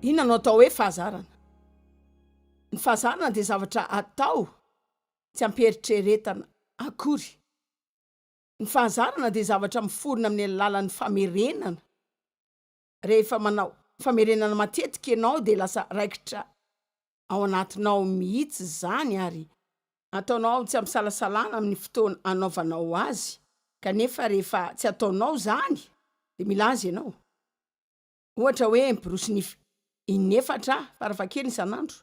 inona no atao hoe fahazarana ny fahazarana dia zavatra atao tsy ampieritrieretana akory ny fahazarana dia zavatra miforona amin'ny alalan'ny famerenana Rehefa manao famerenana matetika ianao dia lasa raikitra ao anatinao mihitsy izany ary ataonao tsy am-pisalasalana amin'ny fotoana anaovanao azy kanefa rehefa tsy ataonao izany dia milaza ianao ohatra hoe miborosy nify inefatra farafahakeliny isan'andro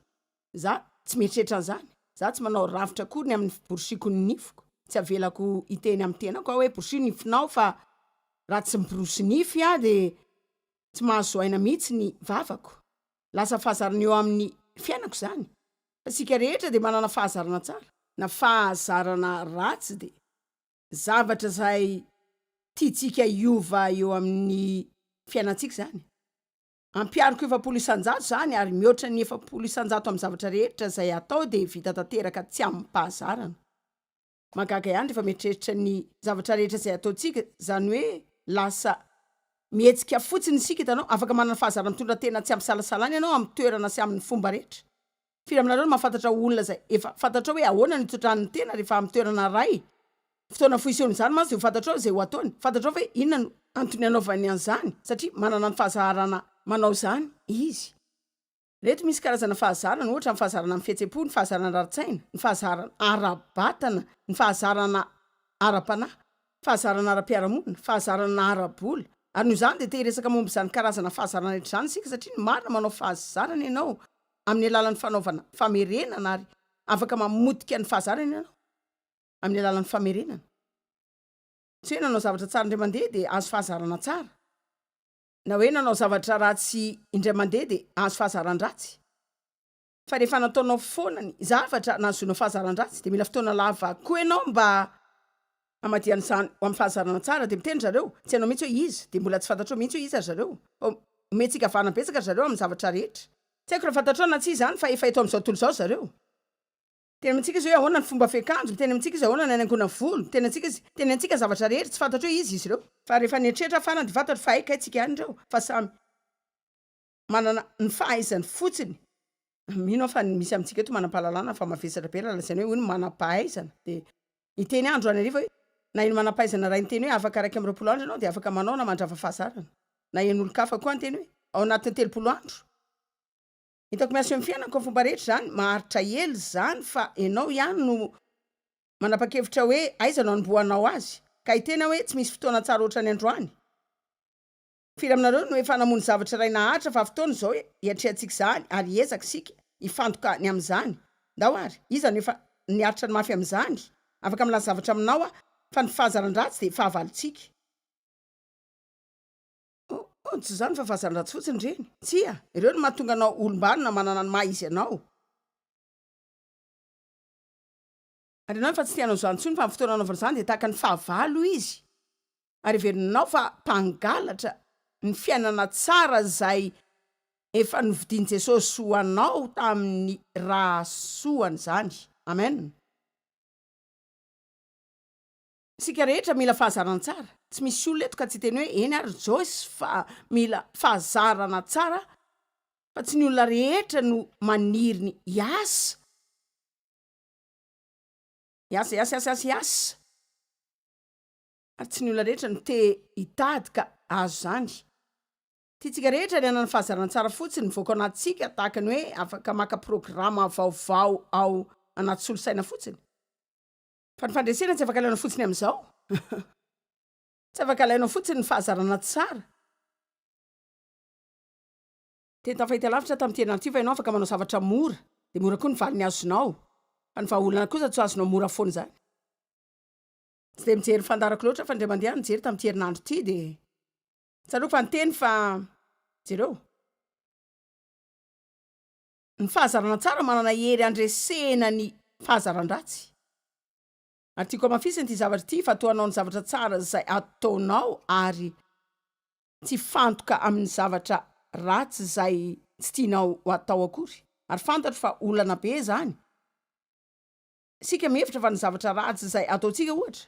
Za tsy mieritreritra an'izany. Za tsy manao rafitra akory ny amin'ny fiborosiako ny nifiko. Tsy avelako hiteny amin'ny tenako aho hoe borosio ny nifinao fa raha tsy miborosy nify aho dia tsy mahazo aina mihitsy ny vavako. Lasa fahazarana eo amin'ny fiainako izany. Fa isika rehetra dia manana fahazarana tsara na fahazarana ratsy dia zavatra izay tiantsika hiova eo amin'ny fiainantsika izany. Ampihariko efapolo isan-jato izany ary mihoatra ny efapolo isan-jato amin'ny zavatra rehetra izay hatao dia vita tanteraka tsy amim-pahazarana. Mahagaga ihany rehefa mieritreritra ny zavatra rehetra izay ataontsika, izany hoe lasa mihetsika fotsiny isika, hitanao, afaka manana fahazara-mitondra tena tsy ampisalasalana ianao amin'ny toerana sy amin'ny fomba rehetra. Firy aminareo no mahafantatra olona izay efa fantatrao hoe ahoana no itotran'ny tena rehefa amin'ny toerana iray? Fotoana fohy isehon'izany mantsy dia ho fantatrao izay ho ataony. Fantatrao ve inona no antony anaovany an'izany? Satria manana ny fahazaharana manao izany izy. Ireto misy karazana fahazarana, ohatra, ny fahazarana amin'ny fihetsem-po, ny fahazarana ara-tsaina, ny fahazarana ara-batana, ny fahazarana ara-panahy, ny fahazarana ara-piarahamonina, fahazarana ara-bola. Ary noho izany dia te-hiresaka momba izany karazana fahazarana rehetra izany isika satria ny marina manao fahazarana ianao amin'ny alalan'ny fanaovana famerenana ary afaka mamotika ny fahazarana ianao amin'ny alalan'ny famerenana. Tsy hoe nanao zavatra tsara indray mandeha dia azo fahazarana tsara, na hoe nanao zavatra ratsy indray mandeha dia azo fahazaran-dratsy, fa rehefa nataonao foana ny zavatra nahazoana fahazaran-dratsy dia mila fotoana lava koa ianao mba Hamadihana izany ho amin'ny fahazarana tsara dia miteny ry zareo, tsy hainao mihitsy hoe iza, dia mbola tsy fantatrao mihitsy hoe iza ry zareo. Omentsika vahana betsaka ry zareo amin'ny zavatra rehetra. Tsy haiko raha fantatrao na tsia izany fa efa eto amin'izao tontolo izao ry zareo. Miteny amintsika izy hoe ahoana ny fomba fiakanjo, miteny amintsika izy ahoana ny hanaingoana ny volo, miteny antsika izy, miteny antsika zavatra rehetra, tsy fantatro hoe iza izy ireo. Fa rehefa nieritreritra aho farany dia fantatro fa hay kay tsika ihany ireo, fa samy. manana ny fahaizany fotsiny mino aho fa ny misy amintsika eto manam-pahalalana fa mavesatra be raha lazaina hoe hoy ny manam-pahaizana dia hiteny ahy androany hariva hoe na eny manam-pahaizana raha niteny hoe afaka iraika amby roapolo andro ianao dia afaka manao na mandrava fahazarana na eny olon-kafa koa niteny hoe ao anatin'ny telopolo andro hitako miasa eo amin'ny fiainako amin'ny fomba rehetra izany maharitra ela izany fa ianao ihany no manapa-kevitra hoe aiza no hanombohanao azy ka hiteny aho hoe tsy misy fotoana tsara ohatran'ny androany Firy aminareo no efa namono zavatra iray naharitra fa fotoana izao hiatrehantsika izany ary hiezaka isika hifantoka ny amin'izany? Ndao ary, iza no efa niaritra ny mafy amin'izany? Afaka milaza zavatra aminao aho fa ny fahazaran-dratsy dia fahavalontsika. Oh, oh, tsy izany fa fahazaran-dratsy fotsiny ireny. Tsia, ireo no mahatonga anao olom-banona manana ny maha-izy anao. Andrinao efa tsy te hanao izany intsony fa amin'ny fotoana anaovana izany dia tahaka ny fahavalo izy ary heverinao fa mpangalatra ny fiainana tsara izay efa novidian'i Jesosy ho anao tamin'ny ra soany izany. Amen. Isika rehetra mila fahazarana tsara. Tsy misy olona eto ka tsy hiteny hoe eny ary Joyce fa mila fahazarana tsara fa tsy ny olona rehetra no maniry ny hiasa Hiasa hiasa hiasa hiasa hiasa ary tsy ny olona rehetra no te hitady ka azo izany. Tiantsika rehetra ny hanana fahazarana tsara fotsiny mivoaka ao anatintsika tahaka ny hoe afaka maka programa vaovao ao anaty solosaina fotsiny. Fa ny fandresena tsy afaka alaina fotsiny amin'izao. Tsy afaka alaina fotsiny ny fahazarana tsara. Teny tafahita lavitra tamin'ity herinandro ity fa ianao afaka manao zavatra mora, dia mora koa ny valiny azonao. Fa ny vahaolana kosa tsy ho azonao mora foana izany. Tsy dia mijery ny fandaharako loatra fa indray mandeha aho nijery tamin'ity herinandro ity dia tsaroako fa niteny fa, jereo, ny fahazarana tsara manana hery handresena ny fahazaran-dratsy. Ary tiako hamafisina ity zavatra ity fa toa hanao ny zavatra tsara izay ataonao ary Tsy hifantoka amin'ny zavatra ratsy izay tsy tianao hatao akory, ary fantatro fa olana be izany. Isika mihevitra fa ny zavatra ratsy izay ataontsika, ohatra,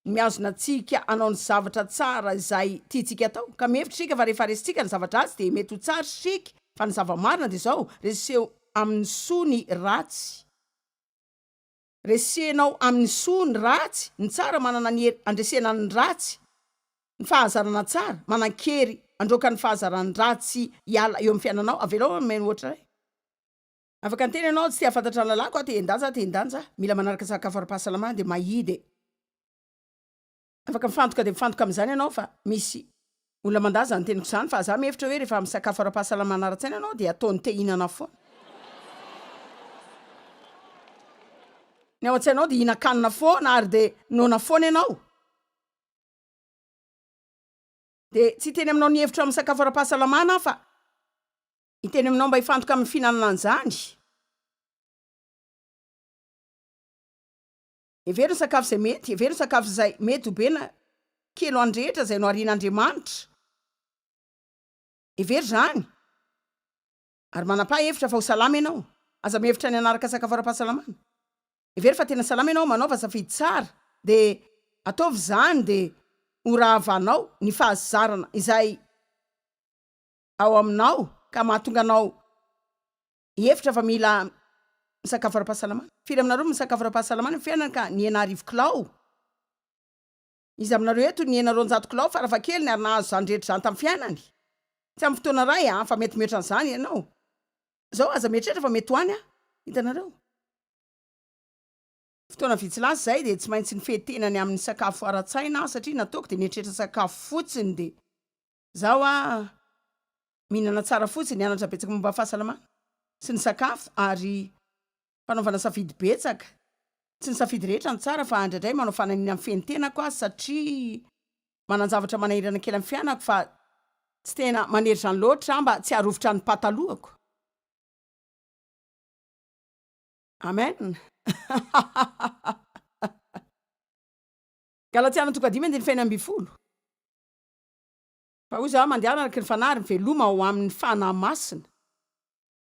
no mihazona antsika hanao ny zavatra tsara izay tiantsika hatao. Ka mihevitra isika fa rehefa resintsika ny zava-dratsy dia mety ho tsara isika, fa ny zava-marina dia izao, reseho amin'ny soa ny ratsy. Resenao amin'ny soa ny ratsy, ny tsara manana ny hery handresena ny ratsy, ny fahazarana tsara manan-kery handroaka ny fahazaran'ny ratsy hiala eo amin'ny fiainanao, avelao hanome ny ohatra iray. Afaka niteny ianao, tsy te-hahafantatra ny lalàko aho, te-hendanja aho, te-hendanja aho, mila manaraka ny sakafo ara-pahasalamana dia mahidy e. Afaka mifantoka dia mifantoka amin'izany ianao fa misy olona mandà izany teniko izany fa za mihevitra hoe rehefa misakafo ara-pahasalamana ara-tsaina ianao dia ataony te hihinana foana ny ao an-tsainao dia hihinan-kanina foana ary dia noana foana ianao dia tsy hiteny aminao ny hevitro amin'ny sakafo ara-pahasalamana aho fa hiteny aminao mba hifantoka amin'ny fihinanana an'izany Hevero ny sakafo izay mety, hevero ny sakafo izay mety ho be na kely ho an'ny rehetra izay noharian'Andriamanitra. Hevero izany, ary manam-paha hevitra fa ho salama ianao. Aza mihevitra ny hanaraka sakafo ara-pahasalamana. Hevero fa tena salama ianao, manaova safidy tsara, dia ataovy izany dia ho rahavanao ny fahazarana izay ao aminao ka mahatonga anao Hevitra fa mila misakafo ara-pahasalamana. Firy aminareo no misakafo ara-pahasalamana amin'ny fiainany ka nihena arivo kilao? Iza aminareo eto no nihena roanjato kilao farafahakeliny ary nahazo izany rehetra izany tamin'ny fiainany? Tsy amin'ny fotoana iray an, fa mety mihoatra an'izany ianao. Izao aza mieritreritra fa mety ho any an, hitanareo. Fotoana vitsy lasa izay dia tsy maintsy nifehy tena ny amin'ny sakafo ara-tsaina aho satria nataoko dia nieritreritra sakafo fotsiny dia Zaho a mihinana tsara fotsiny, nianatra betsaka momba fahasalamana sy ny sakafo ary fanaovana safidy betsaka, tsy ny safidy rehetra no tsara fa indraindray manao fananina mifehy ny tenako aho satria manan-javatra manahirana kely amin'ny fianako fa tsy tena manery izany loatra aho mba tsy harovitra ny patalohako. Amen Galatiana toko dimy andininy fahenina ambin'ny folo. Fa hoy Zao, Mandehana araka ny Fanahy ary miveloma ao amin' ny Fanahy Masina.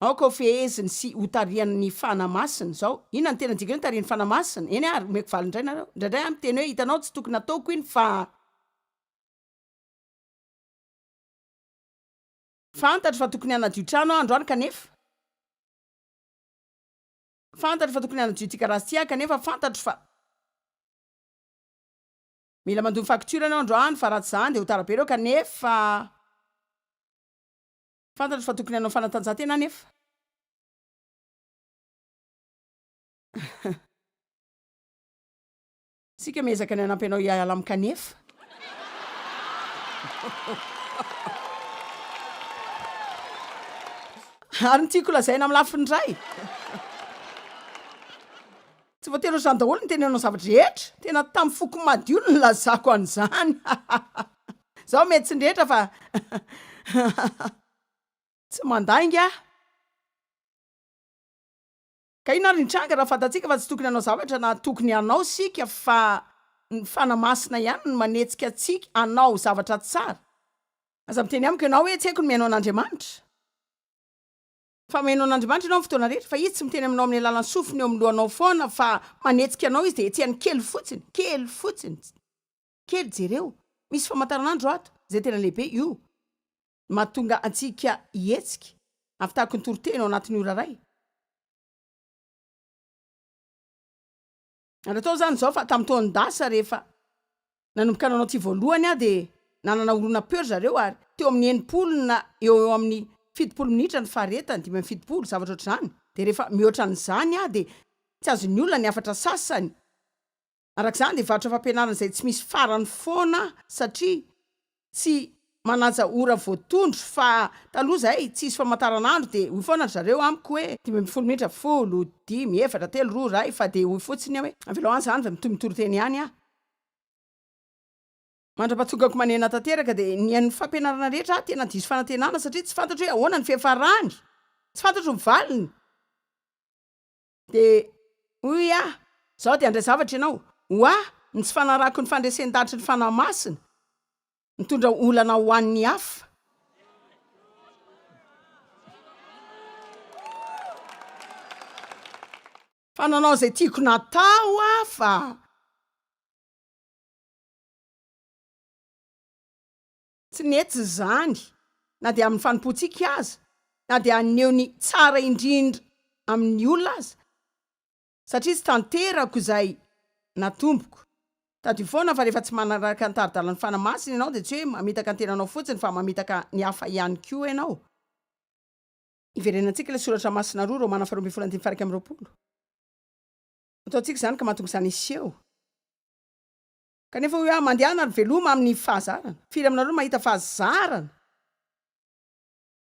Aoka ho feheziny sy hotarihan' ny Fanahy Masina izao. Inona no tena dikany hoe tarihin' ny Fanahy Masina? Eny ary, omeko valiny indray nareo. Indraindray aho miteny hoe, Hitanao, tsy tokony hataoko iny fa. Fantatro fa tokony hanadio trano aho androany kanefa. Fantatro fa tokony hanadio ity garazy ity aho kanefa fantatro fa. Mila mandoa ny facture enao androany fa raha tsy zany dia ho tara be ireo kanefa fantatro fa tokony hanao fanatanjahantena anefa. Isika miezaka ny hanampy anao hiala amin'ny kanefa. Ary ny tiako lazaina amin'ny lafiny iray. Tsy voatery ho izany daholo ny teny hanao zavatra rehetra, tena tamin'ny foko madio no nilazako an'izany hahahha, zaho mety tsy ny rehetra fa hahahha tsy mandainga aho. Ka inona ary ny tranga raha fantatsika fa tsy tokony hanao zavatra na tokony hanao isika fa ny fanahy masina ihany no manetsika antsika hanao zavatra tsara? Aza miteny amiko ianao hoe tsy haiko ny mihaino an'Andriamanitra. Fa mino an'Andriamanitra ianao amin'ny fotoana rehetra, fa Izy tsy miteny aminao amin'ny alalan'ny sofiny eo amin'ny lohanao foana, fa manetsika anao Izy dia hetsehany kely fotsiny, kely fotsiny, kely, jereo, misy famantaranandro ato, izay tena lehibe, io no mahatonga antsika hihetsika, ampitahako ny toriteny ao anatin'ny ora iray. Ary atao izany izao fa tamin'ny taon'ny dasa rehefa nanomboka nanao ity voalohany aho dia nanana horonam-peo ry zareo ary teo amin'ny enimpolo na eo eo amin'ny fitopolo minitra ny faharetany, dimy amby fitopolo, zavatra ohatr'izany. Dia rehefa mihoatra an'izany aho dia tsy azon'ny olona ny hafatra sasany. Araka izany dia varotra fampianarana izay tsy misy farany foana aho satria tsy manaja ora voatondro fa taloha zay tsisy famataranandro de hoy foana ry zareo amiko hoe dimy ambin'ny folo minitra folo, dimy, efatra, telo, roa, ray fa de hoy fotsiny hoe avelao any zany fa mitohy mitory teny ihany aho. Mandra-pahatongako Manena tanteraka de nihaino fampianarana rehetra aho tena diso fanantenana satria tsy fantatro hoe ahoana ny fiafarany, tsy fantatro ny valiny, Dia hoy aho, Izaho dia handray zavatra ianao. Ho ahy, ny tsy fanarahako ny fandresen-dahatry ny Fanahy Masina, mitondra olana ho an'ny hafa. Fa nanao izay tiako natao aho, fa. Tsy nety izany, na dia amin'ny fanompoantsika aza, na dia haneho ny tsara indrindra amin'ny olona aza, satria tsy tanterako izay natomboko. Tadidio foana fa rehefa tsy manaraka ny tari-dalan'ny Fanahy Masina ianao dia tsy hoe mamitaka ny tenanao fotsiny fa mamitaka ny hafa ihany koa ianao. Iverenantsika ilay soratra masina roa, Romana faharoa ambin'ny folo andininy faha iraika amby roapolo. Ataontsika izany ka mahatonga izany hiseho. Kanefa hoy aho, Mandehana ary veloma amin'ny fahazarana. Firy aminareo no mahita fahazarana?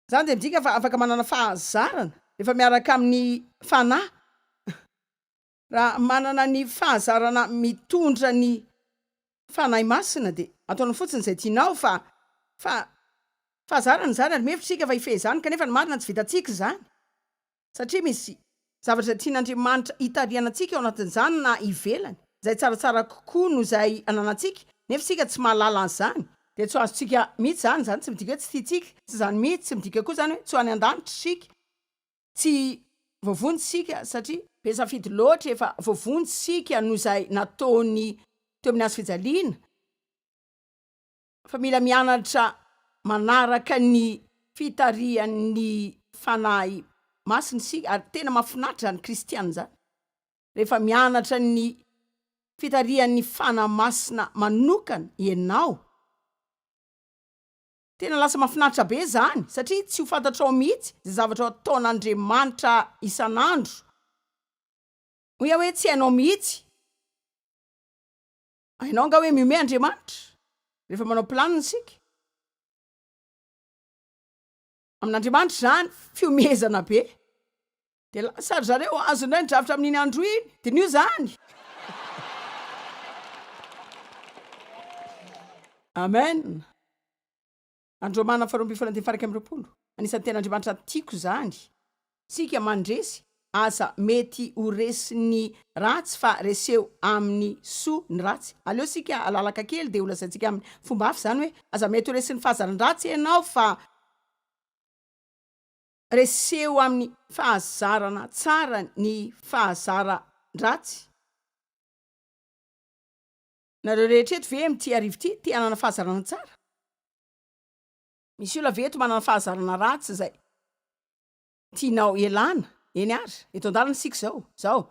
Izany dia midika fa afaka manana fahazarana rehefa miaraka amin'ny Fanahy. Raha manana ny fahazarana mitondra ny Fanahy Masina, dia ataonao fotsiny izay tianao, fa, fa, fahazarana izany, ary mihevitra isika fa hifehy izany, kanefa ny marina tsy vitantsika izany. Satria misy zavatra tian'Andriamanitra hitarihanantsika ao anatin'izany na ivelany, izay tsaratsara kokoa noho izay ananantsika, nefa isika tsy mahalala an'izany, dia tsy ho azontsika mihitsy izany, izany tsy midika hoe tsy tiantsika, tsy izany mihitsy, tsy midika koa izany hoe tsy ho any an-danitra isika, tsy voavonjy isika, satria be safidy loatra efa voavonjy isika noho izay nataony teo amin'ny hazo fijaliana. fa mila mianatra manaraka ny fitarihan'ny Fanahy Masina isika ary tena mahafinaritra izany kristiana izany rehefa mianatra ny fitarihan'ny Fanahy Masina manokana ianao, tena lasa mahafinaritra be izany satria tsy ho fantatrao mihitsy izay zavatra ataon'Andriamanitra isan'andro, hoy aho hoe tsy hainao mihitsy. Hainao angaha hoe mihomehy Andriamanitra rehefa manao planiny isika? Amin'Andriamanitra izany fihomehezana be. Dia lasa ry zareo hahazo indray ny drafitra amin'iny andro iny. Diniho izany. Amen. Andromana faharoa ambin'ny folo andefaraika amby roapolo, Anisan'ny tena Andriamanitra tiako izany. Tsika mandresy aza mety ho resin'ny ratsy fa reseho amin'ny soa ny ratsy. Aleo isika halalaka kely dia holazaintsika amin'ny fomba hafa izany hoe aza mety ho resin'ny fahazaran-dratsy ianao fa reseho amin'ny fahazarana tsara ny fahazaran-dratsy. Nareo rehetra eto ve amin'ity arivo ity te hanana fahazarana tsara? Misy olona ve eto manana fahazarana ratsy izay tianao hialana? Eny ary, eto an-dalana isika izao. Izao.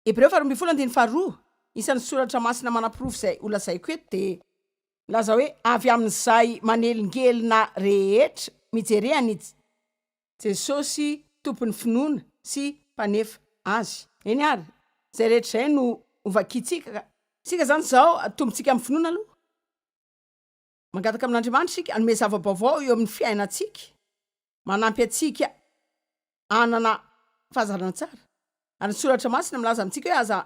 Hebreo faharoa ambin'ny folo andininy faharoa, isan'ny soratra masina manaporofo izay holazaiko eto, dia milaza hoe, Avy amin'izay manelingelina rehetra, mijerea ny Jesosy Tompon'ny finoana sy Mpanefa azy. Eny ary, izay rehetra izay no hovakintsika ka. Isika izany izao atombontsika amin'ny finoana aloha. Mangataka amin'Andriamanitra isika hanome zava-baovao eo amin'ny fiainantsika, manampy antsika hanana fahazarana tsara. Ary ny Soratra Masina milaza amintsika hoe aza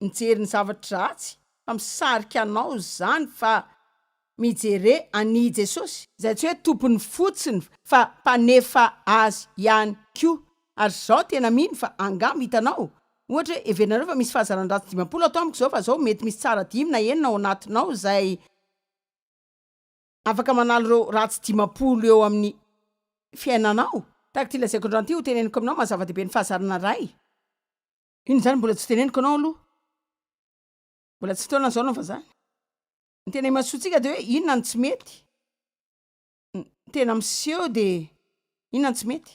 mijery ny zavatra ratsy fa misarika anao izany fa mijere an i Jesosy izay tsy hoe tompony fotsiny fa mpanefa azy ihany koa ary izao tena mino fa angamba hitanao ohatra hoe heverinareo fa misy fahazaran-dratsy dimampolo ato amiko izao fa izao mety misy tsara dimy na enina ao anatinao izay afaka manala ireo ratsy dimampolo eo amin'ny fiainanao. Tahaka ity lazaiko androany ity hoteneniko aminao maha zava-dehibe ny fahazarana ray. Iny zany mbola tsy teneniko anao aloha, mbola tsy taona zao anao fa zany, ny tena imasoantsika de hoe inona no tsy mety, ny tena miseho de inona no tsy mety,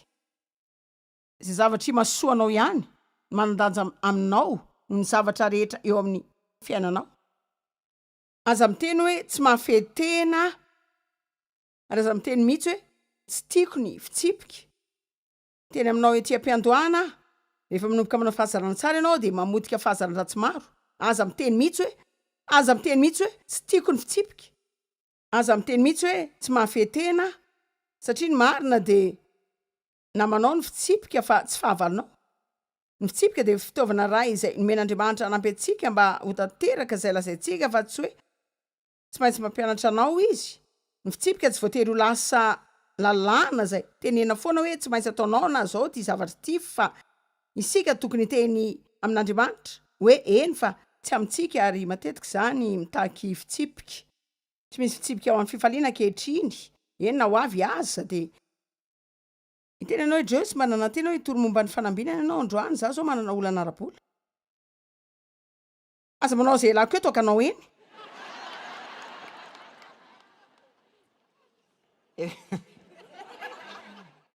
ze zavatra imasoanao ihany no manan-danja aminao noho ny zavatra rehetra eo amin'ny fiainanao, aza miteny hoe tsy mahafehy tena ary aza miteny mihitsy hoe tsy tiako ny fitsipika, Teny aminao ety am-piandohana aho. Rehefa manomboka manao fahazarana tsara ianao dia mamotika fahazaran-dratsy maro. Aza miteny mihitsy hoe, Aza miteny mihitsy hoe, Tsy tiako ny fitsipika. Aza miteny mihitsy hoe, Tsy mahafehy tena aho. Satria ny marina dia namanao ny fitsipika fa tsy fahavalonao. Ny fitsipika dia fitaovana iray izay nomen'Andriamanitra hanampy antsika mba ho tanteraka izay lazaintsika fa tsy hoe, Tsy maintsy mampianatra anao izy. Ny fitsipika tsy voatery ho lasa lalàna izay. Tenena foana hoe tsy maintsy ataonao na izao ity zavatra ity fa isika tokony hiteny amin'Andriamanitra hoe eny fa tsy amintsika ary matetika izany mitaky fitsipika. Tsy misy fitsipika ao amin'ny fifaliana ankehitriny, eny na ho avy aza dia hiteny anao i Joyce mba nanantena hoe hitory momba ny fanambinana ianao androany, izaho izao manana olana ara-bola. Aza manao izay lako eto ka anao eny e.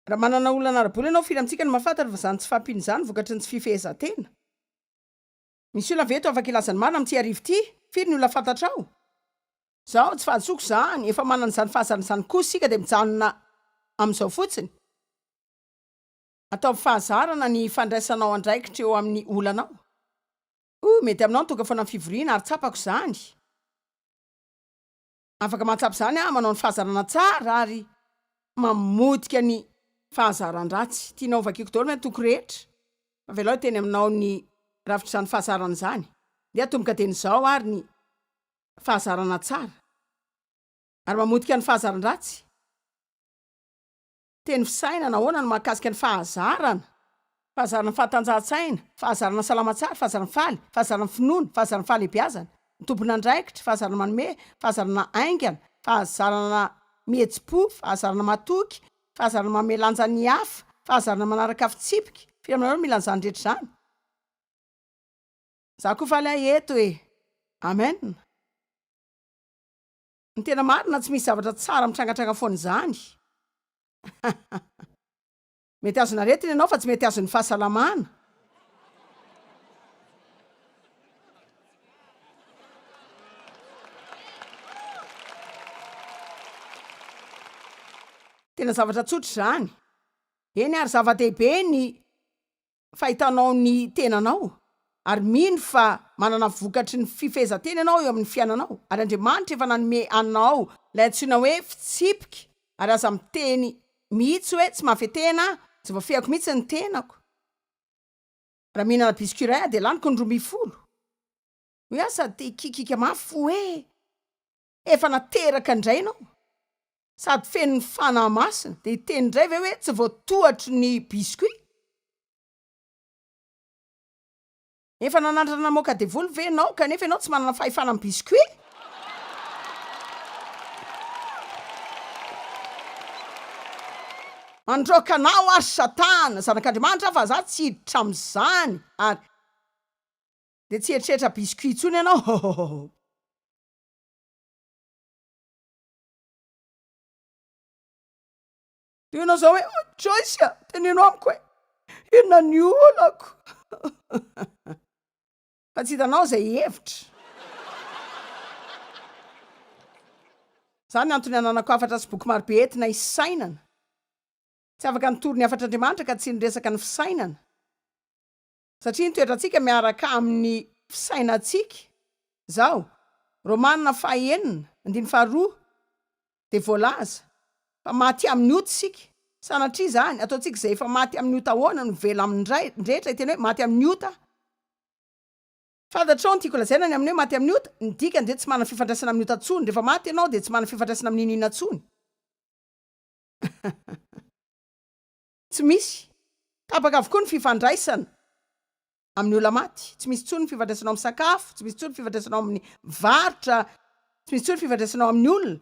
Raha manana olana ara-bola ianao, firy amintsika no mahafantatra fa izany tsy fahampiana izany vokatry ny tsy fifehezan-tena? Misy olona ve eto afaka hilaza ny marina amin'ity hariva ity? Firy ny olona fantatrao? Izao, tsy fahadisoako izany, efa manana izany fahazarana izany koa isika dia mijanona amin'izao fotsiny. Ataovy fahazarana ny fandraisanao andraikitra eo amin'ny olanao. Ooh mety aminao ny tonga foana ny fivoriana ary tsapako izany. Afaka mahatsapa izany aho, manao ny fahazarana tsara ary mamotika ny fahazaran-dratsy. Tianao ho vakiako daholo ve ny toko rehetra? Avelao hiteny aminao ny rafitr'izany fahazarana izany. Ndeha atomboka dieny izao ary ny fahazarana tsara ary mamotika ny fahazaran-dratsy. Teny fisainana, ahoana no mahakasika ny fahazarana? Fahazarana ny fahatanjahan-tsaina, fahazarana ny salama tsara, fahazarana ny faly, fahazarana ny finoana, fahazarana ny fahalehibiazana, ny tompon'andraikitra, fahazarana manome, fahazarana haingana, fahazarana mihetsi-po, fahazarana matoky, fahazarana manome lanja ny hafa, fahazarana manaraka fitsipika, firy aminareo no mila an'izany rehetra izany? Za koa faly ahy eto e! Amen! Ny tena marina tsy misy zavatra tsara mitrangatranga foana izany. Mety azon' aretina ianao fa tsy mety azon' ny fahasalamana. Tena zavatra tsotra izany. Eny ary zava-dehibe ny. fahitanao ny tenanao ary mino fa manana vokatry ny fifehezan-tena ianao eo amin'ny fiainanao ary Andriamanitra efa nanome anao ilay antsoina hoe fitsipika ary aza miteny mihitsy hoe tsy mahafehy tena aho, tsy voafehiko mihitsy ny tenako raha mihinana biscuit iray aho dia laniko ny roa ambin'ny folo. Hoe aho sady te hikikika mafy fo hoe. Efa nateraka indray ianao sady feno ny Fanahy Masina dia hiteny indray ve hoe tsy voatohatry ny biscuit? Efa nanandrana namoaka devoly ve ianao kanefa ianao tsy manana fahefana amin'ny biscuit? Mandroaka anao ary Satana zanak'Andriamanitra aho fa za tsy hiditra amin'izany ary dia tsy hieritreritra biscuit intsony ianao hôhôhôhô. Dia ianao izao hoe, oh, Joyce, teneno amiko hoe, inona ny olako? Fa tsy hitanao izay hevitra. Izany antony ananako hafatra sy boky marobe entina hisainana. Tsy afaka nitory ny hafatr'Andriamanitra ka tsy niresaka ny fisainana. satria ny toetrantsika miaraka amin'ny fisainantsika izao, Romana faha enina andininy faha roa dia voalaza fa maty amin'ny ota isika, sanatria izany ataontsika izay efa maty amin'ny ota ahoana no vela amin'ny ray ny rehetra hiteny hoe maty amin'ny ota aho. Fantatrao ny tiako lazaina ny amin'ny hoe maty amin'ny ota? Ny dikany dia tsy manana fifandraisana amin'ny ota intsony, rehefa maty ianao dia tsy manana fifandraisana amin'inona inona intsony. Tsy misy. Tapaka avokoa ny fifandraisana amin'ny olona maty. Tsy misy intsony ny fifandraisana ao amin'ny sakafo, tsy misy intsony ny fifandraisana ao amin'ny varotra, tsy misy intsony ny fifandraisana ao amin'ny olona.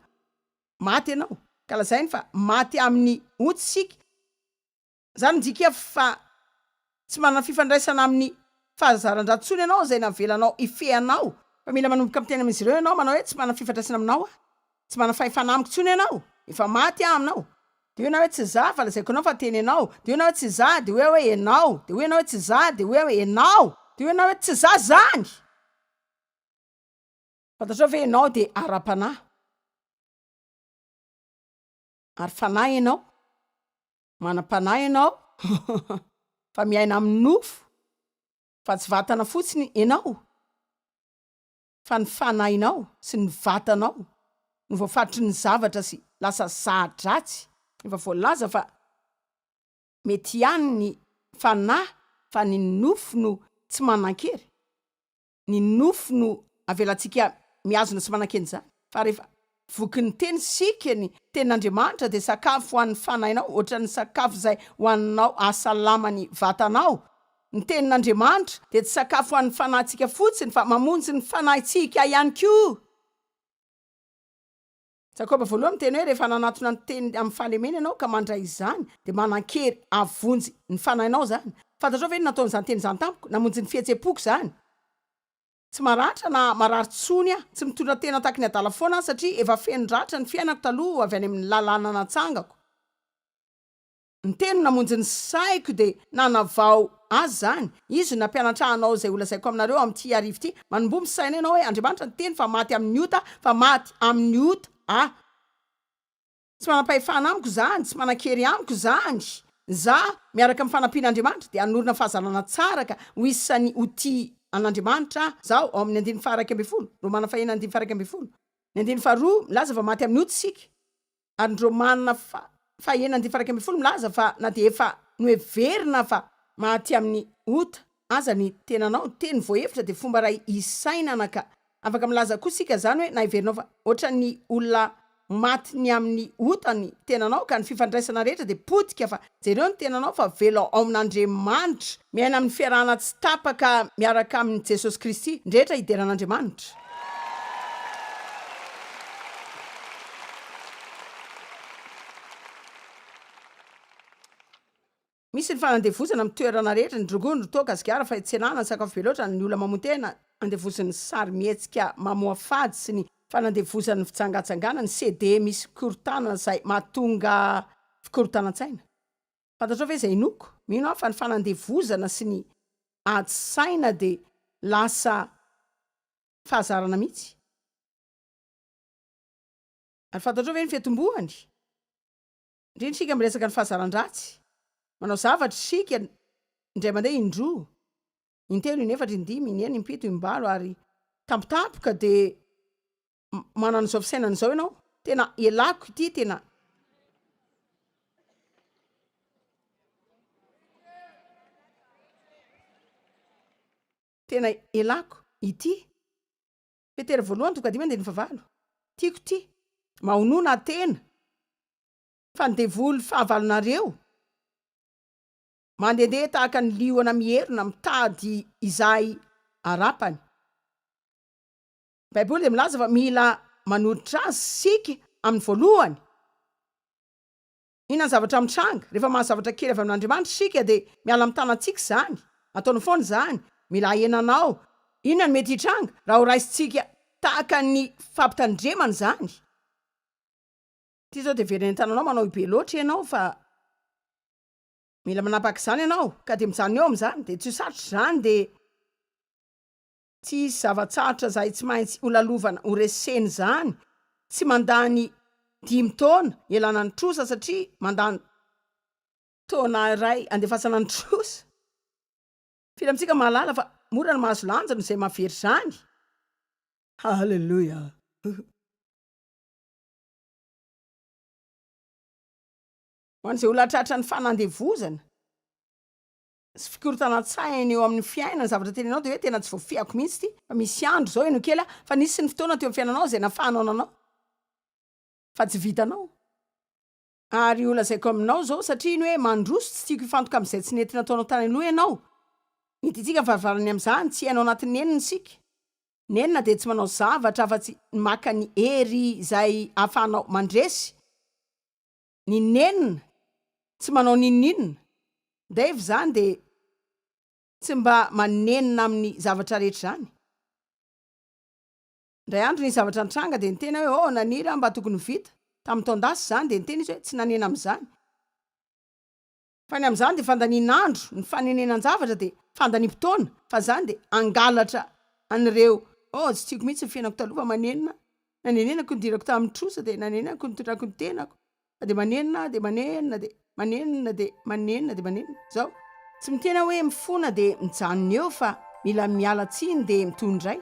Maty ianao ka lazainy fa maty amin'ny ontsy isika. Izany midika fa Tsy manana fifandraisana amin'ny fahazaran-dRatsony ianao izay navelanao hifehy anao fa mila manomboka miteny amin'izy ireo ianao manao hoe tsy manana fifandraisana aminao aho, tsy manana fahefana amiko intsony ianao, efa maty aho aminao. Dia hoe ianao hoe tsy za fa lazaiko anao fa tena ianao, dia hoe ianao hoe tsy za dia hoe hoe ianao, dia hoe ianao hoe tsy za dia hoe hoe ianao, dia hoe ianao hoe tsy za izany! Fantatrao ve ianao dia ara-panahy ary fanahy ianao? Manam-panahy ianao fa miaina amin'ny nofo fa tsy vatana fotsiny ianao fa ny fanahinao sy ny vatanao no voafaritry ny zavatra sy lasa za-dratsy. Efa voalaza fa mety ihany ny fanahy fa ny nofo no tsy manan-kery. ny nofo no avelantsika mihazona sy manan-kena izany, fa rehefa vokin'ny teny isika, ny tenin'Andriamanitra dia sakafo ho an'ny fanahinao, ohatran'ny sakafo izay hohaninao hahasalama ny vatanao. Ny tenin'Andriamanitra dia tsy sakafo ho an'ny fanahintsika fotsiny fa mamonjy ny fanahintsika ihany koa. Jakoba voalohany miteny hoe, Rehefa nanatona ny teniny amin'ny fahalemena ianao ka mandray izany, dia manan-kery havonjy ny fanahinao izany. Fantatrao ve ny nataon'izany teny izany tamiko? Namonjy ny fihetsem-poko izany. Tsy maratra na marary intsony aho. Tsy mitondra tena tahaka ny adala foana aho, satria efa feno ratra ny fiainako taloha avy any amin'ny lalàna natsangako. Ny teny namonjy ny saiko dia nanavao Azy izany. Izy no nampianatra anao izay holazaiko aminareo amin'ity arivo ity. Manomboha misaina ianao hoe Andriamanitra niteny fa maty amin'ny ota, fa maty amin'ny ota aho. Tsy manam-pahefana amiko izany, tsy manan-kery amiko izany. Izaho, miaraka amin'ny fanampian'Andriamanitra, dia hanorina fahazarana tsara ka ho isan'ny ho tia an'Andriamanitra aho. Izaho, ao amin'ny andininy faha iraika ambin'ny folo, Romana fahina andininy faha iraika ambin'ny folo, ny andininy faharoa, milaza fa maty amin'ny ota isika. ary ny Romana fa faha enina andin'ny faha iraika ambin'ny folo milaza fa na dia efa noheverina fa maty amin'ny ota aza ny tenanao, teny voahevitra dia fomba iray hisainana ka afaka milaza koa isika izany hoe na heverinao fa ohatran'ny olona maty ny amin'ny ota ny tenanao ka ny fifandraisana rehetra dia potika fa Jereo ny tenanao fa velao ao amin'Andriamanitra, miaina amin'ny fiarahana tsy tapaka miaraka amin'i Jesosy Kristy, ny rehetra hidera an'Andriamanitra. Misy ny fanandevozana amin'ny toerana rehetra, ny rongony, ny toaka, sigara, fahitserana, ny sakafo be loatra, ny olona mamoa-tena, andevozin'ny sarimihetsika mamoafady sy ny fanandevozan'ny fijangajangana ny CDE misy fikorontanana izay mahatonga fikorontanan-tsaina. Fantatrao ve izay inoako? Mino aho fa ny fanandevozana sy ny ady saina dia lasa fahazarana mihitsy. Ary fantatrao ve ny fiantombohany? Indrindra isika miresaka ny fahazaran-dratsy. Manao zavatra isika indray mandeha indroa. intelo, inefatra, indimy, inenina, impito, imbalo ary. Tampotampoka dia manana izao fisainana izao ianao, tena elako ity tena. Tena elako ity. Petera voalohany toko dimy andininy favalo. Tiako ty. Mahonona tena. Fa ny devoly fahavalonareo. Mandehandeha tahaka ny liona mierona mitady izay harapany. Ny Baiboly dia milaza fa mila manoditra azy isika amin'ny voalohany. Inona ny zavatra mitranga? Rehefa mahazavatra kely avy amin'Andriamanitra isika dia miala amin'ny tanantsika izany. Ataony foana izany. Mila ahena anao. Inona no mety hitranga raha horaisintsika tahaka ny fampitandremana izany? Ity izao dia heverina eny an-tananao manao be loatra ianao fa Mila manapaka izany ianao ka dia mijanona eo amin'izany dia tsy ho sarotra izany dia tsy hisy zava-tsarotra izay tsy maintsy ho lalovana ho resena izany tsy mandany dimy taona ialana ny trosa satria mandany taona iray andefasana ny trosa. Firy amintsika mahalala fa mora ny mahazo lanja noho izay mahavery izany? Haleloia! Ho an'izay olona tratran'ny fanandevozana sy fikorontanan-tsaina eo amin'ny fiainana ny zavatra tenenao dia hoe tena tsy voafehako mihitsy ity fa misy andro izao heno kely aho fa nisy ny fotoana teo amin'ny fiainanao izay nafahanao nanao fa tsy vitanao ary holazaiko aminao izao satria ny hoe mandroso tsy tiako hifantoka amin'izay tsy nety nataonao tany aloha ianao mety hitsika ny varavarany amin'izany tsy hainao anatin'ny nenina isika nenina dia tsy manao zavatra afa-tsy ny maka ny hery izay ahafahanao mandresy ny nenina tsy manao n'inon'inona, Dave zany de tsy mba manenina aminy zavatra rehetra zany, ndray andro nisy zavatra nitranga de niteny aho hoe oh naniry aho mba tokony ho vita, tamin'ny taon-dasa zany de niteny izy hoe tsy nanena amizany, Fa ny amin'izany dia fandanian'andro, ny fanenenan-javatra dia fandaniam-potoana, fa izany dia hangalatra an'ireo, oh, tsy tiako mihitsy ny fiainako taloha fa manenina, nanenenako ny dirako tamin'ny trosa, dia nanenenako ny nitondrako ny tenako, fa dia manenina aho, dia manenina, dia manenina, dia manenina, dia manenina, izao. Tsy miteny aho hoe mifona dia mijanona eo fa mila miala tsiny dia mitohy indray.